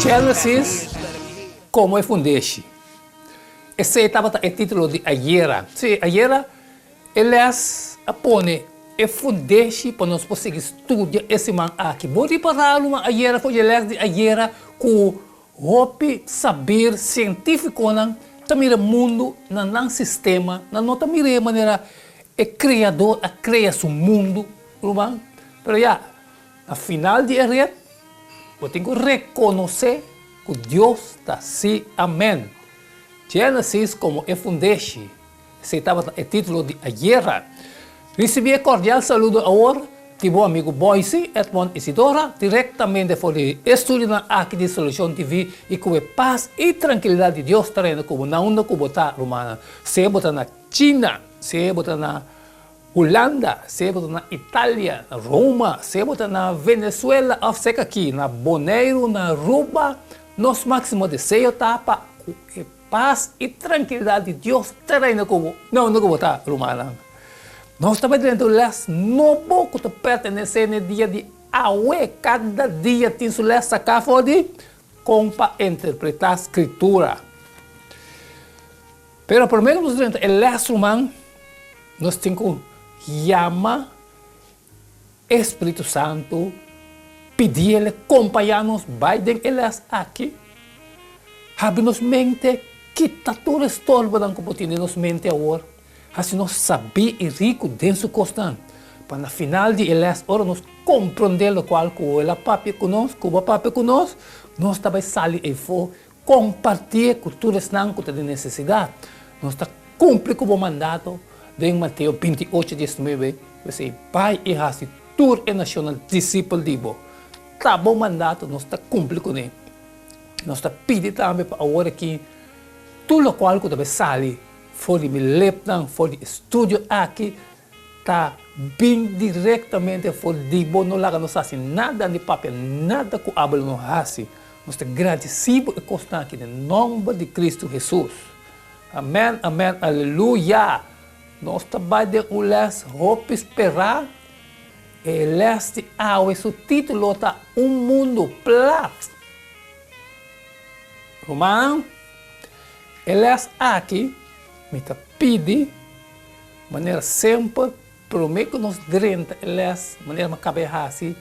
Genesis, Como e fundeshi. Esey tabata e titulo di ayera. Sí, ayera e les a pone e fundeshi pa nos por sigui studia e siman aki. Bo ripará luba ayera ku dje les di ayera ku Hopi saber sientíficonan ta mira mundu na nan sistema, nan no ta mira e manera e Creador a crea su mundu, ruman. Pero ya, na final di e ret, bo tin cu reconoce cu Dios ta así. Amen. Génesis como e fundeshi. S'ei tabata e titulo di ayera. Risibí e kordial saludo awor di bo amigu Boyce, Edmond i Sidora, direktamente for di e estudiunan aki di Solucion TV, i ku e pas i trankilidat di Dios ta rena ku bo nan unda ku bo ta, rumannan, sea bo ta na China, sea bo ta na Hulanda, sea bo ta na Italia, na Roma, sea bo ta na Venezuela òf sèk aki na Boneiru, na Aruba, nos máksimo deseo ta pa ku e. Pas i trankilidat di Dios ta reina ku bo. Mi a unda ku bo ta, rumannan. Nos ta bai drenta un lès nobo ku ta pertenesé na e dia di awe. Kada dia tin su lès saká for di kon pa interpretá Skritura. Pero promé ku nos drenta e lès, ruman, nos tin ku yama E Spiritu Santu pidi el kompañá nos bai den e lès aki, Habri nos mente, kita tur estorbonan ku por tin den nos mente awor, hasi nos sabí i riku den su kosnan, pa na final di e lès ora nos komprondé lokual ku el a papia ku nos, ku bo a papia ku nos, nos ta bai sali aifó Kompartié ku tur esnan ku ta den nesesidat. Nos ta kumpli ku bo mandato den Mateo binti ocho diesnuebe, p'esei bai i hasi tur e nashonnan disipel di bo. Ta bo mandato, nos ta kumpli kuné. Nos ta pidi tambe pa awor aki tur lokual ku ta bai sali for di mi lepnan, for di e studio aki, Ta bin directamente for di bo, no laga nos haci nada ni papia nada cu abo lo no haci. Nos ta gradeci bo e cosnan aki den nomber di Cristo Hesus. Amen, amen, aleluya! Nos ta bay den un les hopi spera, e les di awe su titulo ta Un Mundo Plat. Rumannan, e les aki mi ta pidi. Manera semper, promé ku nos drenta e lès, manera mi akaba di hasi,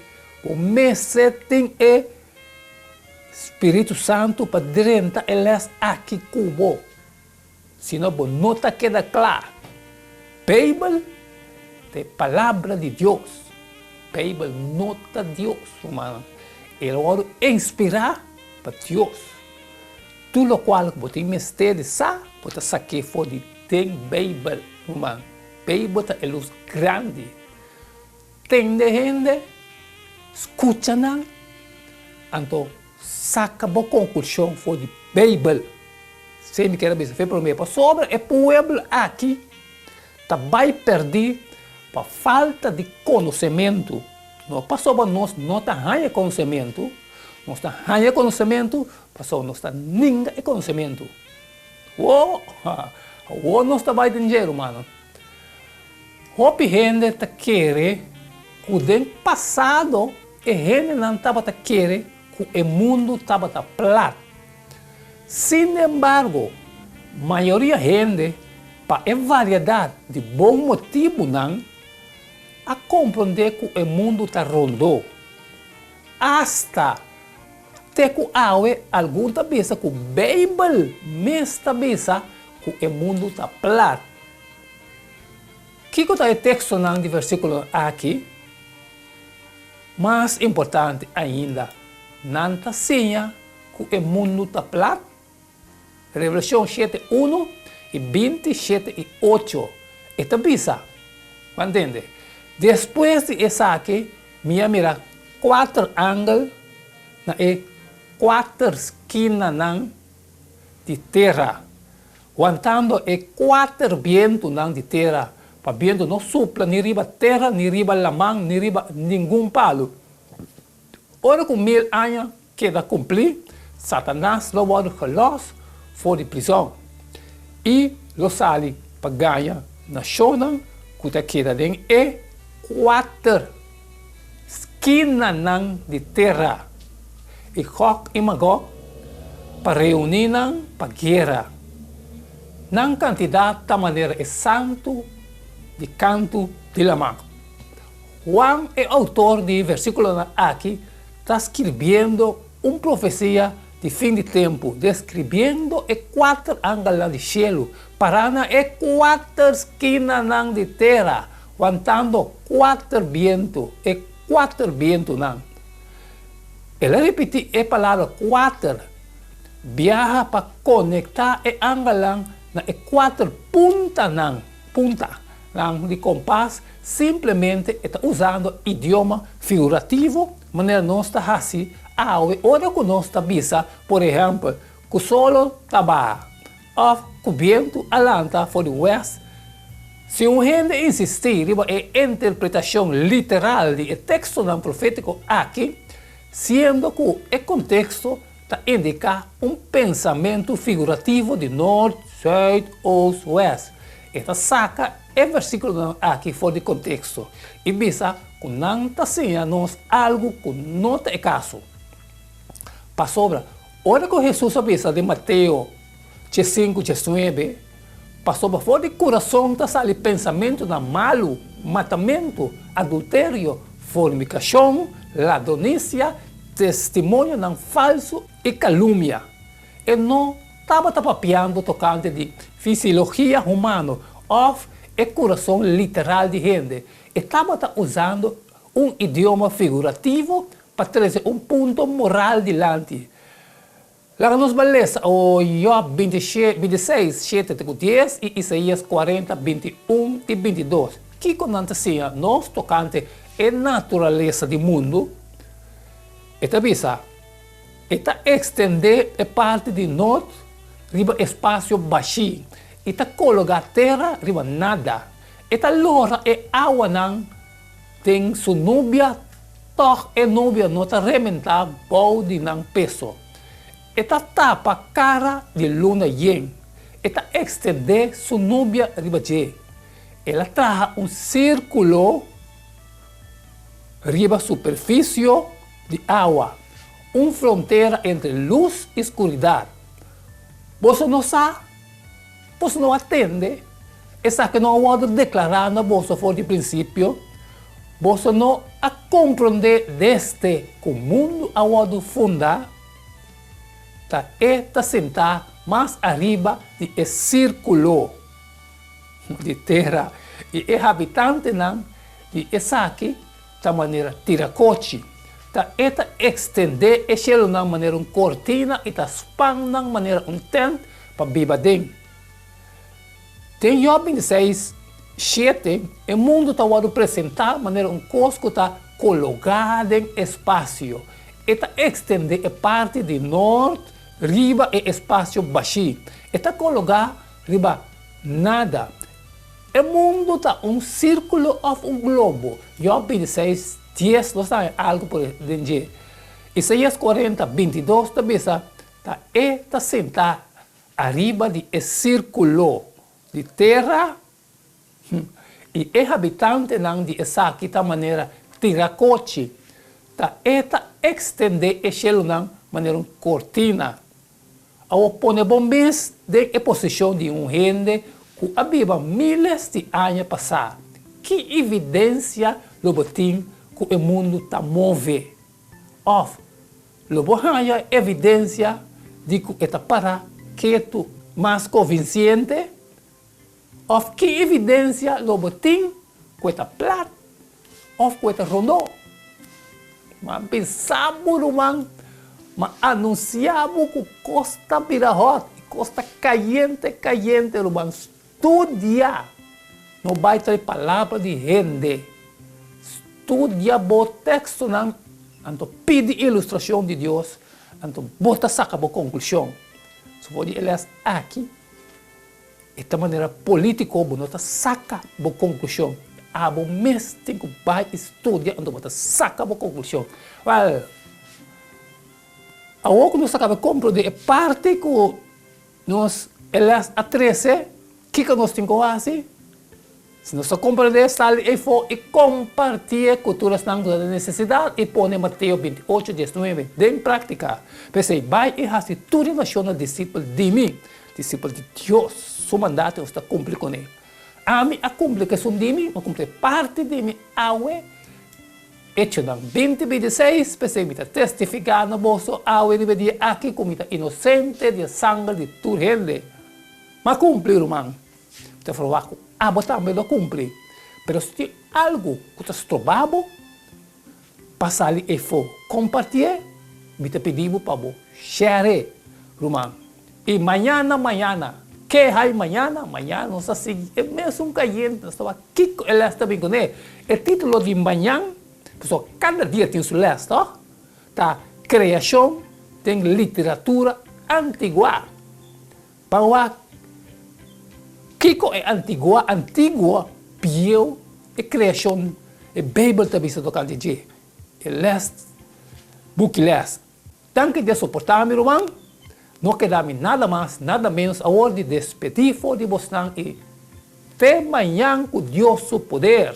bo mester tin e Spiritu Santu pa drenta e lès aki ku bo, si no bo no ta keda kla. Beibel ta e Palabra di Dios. Beibel no ta Dios, rumannan. El a wòrdu inspirá pa Dios. Tur lokual ku bo tin mester di sa, bo ta sak'é for di. Den Beibel, ruman, Beibel ta e lus grandi. Tende hende, skucha nan, anto saka bo konklushon for di Beibel. Esei mi ker a bisa fe promé, pasobra e pueblo aki ta bai pèrdí pa falta di konosementu. No pasobra nos no ta haña konosementu, nos ta haña konosementu pasobra nos ta ninga e konosementu. Wo, ha, wo nos ta bai den dje, rumano. Hopi hende ta kere ku den pasado e hendenan tabata kere ku e mundu tabata plat. Sinembargo, mayoria hende, pa e variedat di bon motibunan, a komprondé ku e mundu ta rondó. Asta. Te ku awe algun ta bisa ku Beibel mes ta bisa ku e mundu ta plat. Kiko ta e tekstonan di versíkulonan aki? Mas importante ainda, nan ta siña ku e mundu ta plat? Revelashon shete unu i binti shete i ocho e ta bisa, Bo a ntende? Despues di esaki mi a mira kuater angel na e kuater skinanan di tera, wantando e kuater bientunan di tera, pa bientu no supla ni riba tera, ni riba laman, ni riba ningun palu. Ora ku mil aña keda kumpli, Satanas lo wòrdu gelòs for di prizòn i lo sali pa gaña nashonnan ku ta keda den e kuater skinanan di tera, i Gòg i Magòg pa reuní nan pa guera. Nan kantidat ta manera e santu di kantu di laman. Juan, e outor di e versíkulonan akí, Ta skirbiendo un profesia di fin di tempu, describiendo e kuater angelnan di shelu pará na e kuater skinanan di tera, wantando kuater bientu, e kuater bientunan. El a ripití e palabra kuater biaha pa konektá e angelnan na e kuater puntanan, punta. Nan di kompas simplemente e ta usando idioma figurativo, manera nos ta hasi awe ora ku nos ta bisa, por ehèmpel, ku solo ta baha òf ku bientu a lanta for di wèst. Si un hende insistí riba e interpretashon literal di e tekstonan profétiko akí, siendo ku e konteksto ta indiká un pensamentu figurativo di nort, sùit, ost, wèst. E ta saka e versíkulonan akí for di konteksto i bisa ku nan ta siña nos algu ku no ta e kaso. Pasobra, ora ku Hesus a bisa di Mateo, Che sinku, che suebe, pasobra for di kurason ta sali pensamentunan malu, matamentu, adulterio, fornikashon, ladronisia, testimonionan falsu i kalumia. E no tabata papiando tokante di fisiologia humano òf e kurason literal di hende, e tabata usando un idioma figurativo pa trese un punto moral dilanti. Laga nos bai lesa Job bintiseis, shete te ku dies i Isaías kuarenta, binti un ti binti dos. Kiko nan ta siña nos tokante e naturalesa di mundu? E ta bisa, E ta ekstendé e parti di nort riba e spasio bashí i ta kologá tera riba nada. E ta lora e awanan. Den su nubia, tòg e nubia no ta rementá bou di nan peso. E ta tapa kara di luna yen, e ta ekstendé su nubia riba dje. El a traha un sírkulo riba superfisio di awa, un frontera entre lus i skuridat. Boso no sa? Pues no a tende esaki no a worde deklará na boso for di prinsipio? Boso no a komprondé desde ku mundu a worde fundá, ta E ta sintá mas ariba di e sirkulo di tera, i e habitantenan di esaki ta manera tirakochi, ta e ta ekstendé e shelunan manera un kortina i ta span nan manera un tènt pa biba aden. Den Yòb binti seis, shete, e mundu ta wòrdu presentá manera un kos ku ta kologá den espasio. E ta ekstendé e parti di nort riba e espasio bashí. E ta kologá riba nada. E mundu ta un sirkulo òf un globo. Jòb bini seis dies nos ta haña algu por e den dje. Isaias korenta binti dos ta bisa, Ta E ta sentá ariba di e sirkulo di tera, hm, i e habitantenan di esaki ta manera tira kochi, ta E ta ekstendé e shelunan manera un kortina. Awo pone bo mes den e posishon di un hende ku a biba míles di aña pasá. Ki evidensia lo bo tin ku e mundu ta move? Òf lo bo haña evidensia di ku e ta para ketu mas konvinsiente? Òf ki evidensia lo bo tin ku e ta plat òf ku e ta rondó? Bo a pensa bo ruman, ma anunsiá bo ku kos ta bira hòt i kos ta kayente kayente ruman. Studia, no bai tra e palabra di hende. Studia bo tekstonan, anto pidi ilustrashon di Dios, anto bo ta saka bo konklushon. Su for di e lès aki. E ta manera politico bo no ta saca bo conclusion. Abo mes tin cu bay y studia anto bo ta saca bo conclusion. Well, awo cu nos a caba comprende e parti cu nos e les a trece kico nos tin cu haci. Si nos ta comprende, sali ei fo i compartie cu tur esnan cu ta den necesidad i pone Mateo binti-ocho dies nuebe den practica. P'esei, bai i haci tur e nacionnan discipel di mi, discipel di Dios. Su mandato nos ta cumpli con e. Ami a cumpli c'esun di mi, mi a cumpli e parti di mi awe. Hechonan binti bintiseis, P'esei mi ta testifica na boso awe riba e dia aki cu mi ta inocente di e sanger di tur hende. M'a cumpli, ruman. Ta proba cu abo tambe lo cumpli, pero si tin algo cu ta stroba bo pa sali efo compartie, mi ta pidi bo pa bo share ruman. Y mañana mañana, ke hay mañana, mañana nos ta sigui e mesun cayente, nos ta wak kico e les ta bin cune. E titulo di mañan, pasobra cada dia tin su les to, ta Creacion den literatura antigua. Pa wak, kiko e antiguo antiguo bieu e creashon e Bijbel ta bisa tocante dje? E les, Buki Les, Danki Dios por portami, ruman. No kedami nada mas, nada menos awor di despedí for di bosnan i Te mañan cu Dios su poder.